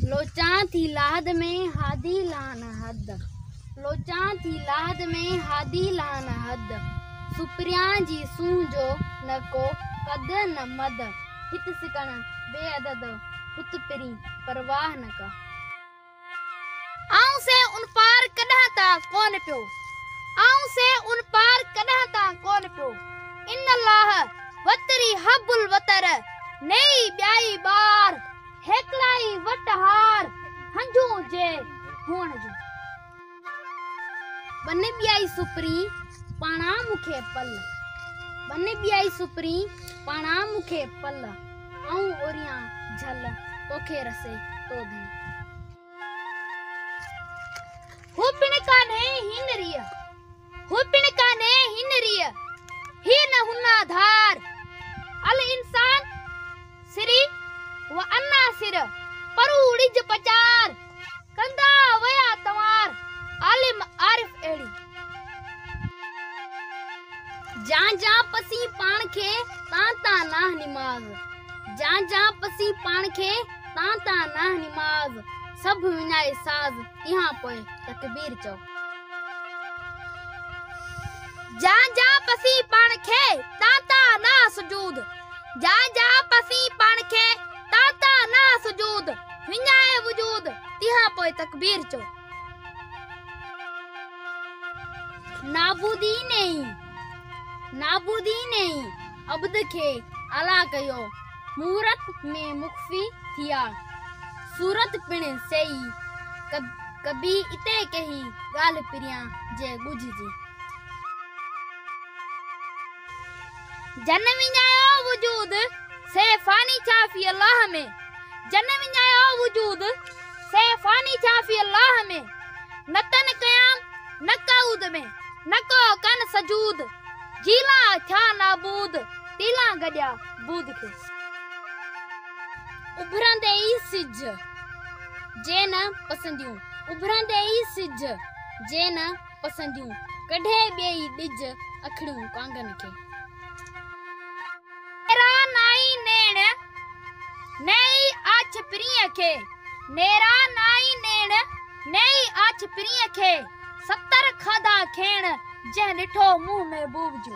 لوچان ٿي لاهد ۾ هادي لان حد لوچان ٿي لاهد ۾ هادي لان حد سپريان جي سونهن جو نه ڪو قد نه مد هت سڪڻ بي عدد هت پرين پرواهه نه ڪا. آئون سي ان پار ڪڏهن تان ڪون پيو آئون سي ان پار ڪڏهن تان ڪون پيو. ان الله وتري حب الوتر نيئي ٻيائي ٻار هيڪڙائي وٽ هار هنجون جي هئڻ جون ٻن ٻيائي سپرين پاڻا مون کي پل ٻن ٻيائي سپرين پاڻا مون کي پل آئون اوريان جھل توکي رسي تو ڌڻي هو پڻ ڪانهي هينريء هو پڻ ڪانهي هن ريء، هي نه هن آڌار. الانسان سري و انا سر، پرو ڙج پچار. ڪندا ويا تنوار، عالم عارف اهڙي. جان جان پسين پاڻ کي، تان تان ناه نماز. جان جان پسين پاڻ کي، تان تان ناه نماز. سڀ وڃائي ساز، اها پوء تڪبير چئو. جا جا پسي پاڻ کي تان تان نه سجود جا جا پسي پاڻ کي تان تان نه سجود وڃائي وجود تنهن پوء تڪبير چو نابودي نئي نابودي نئي عبد کي اعليٰ ڪيو مورت ۾ مخفي ٿيا. صورت پڻ سيئي ڪبي اتي ڪيهي ڳالهه پريان جي ڳجهه جي. جنھن وڃايو وجود سي فاني ڇا في الله ۾. جنھن وڃايو وجود سي فاني ڇا في الله ۾. نه تن قيام نه قعود ۾، نه ڪو ڪن سجود. جيلان ٿيا نابود، تيلان گڏيا. بود کي. اڀرندي ئي سج جي نه پسنديون اڀرندي ئي سج جي نه پسنديون ڪڍي ٻئي ڏج اکڙيون ڪانگن کي. نيرا نائي نيڻ نيئي آڇ پرينء کي نيرا نائي نيڻ نيئي آڇ پرينء کي. ستر کاڌا کين، جنهن ڏٺو منهن محبوب جو.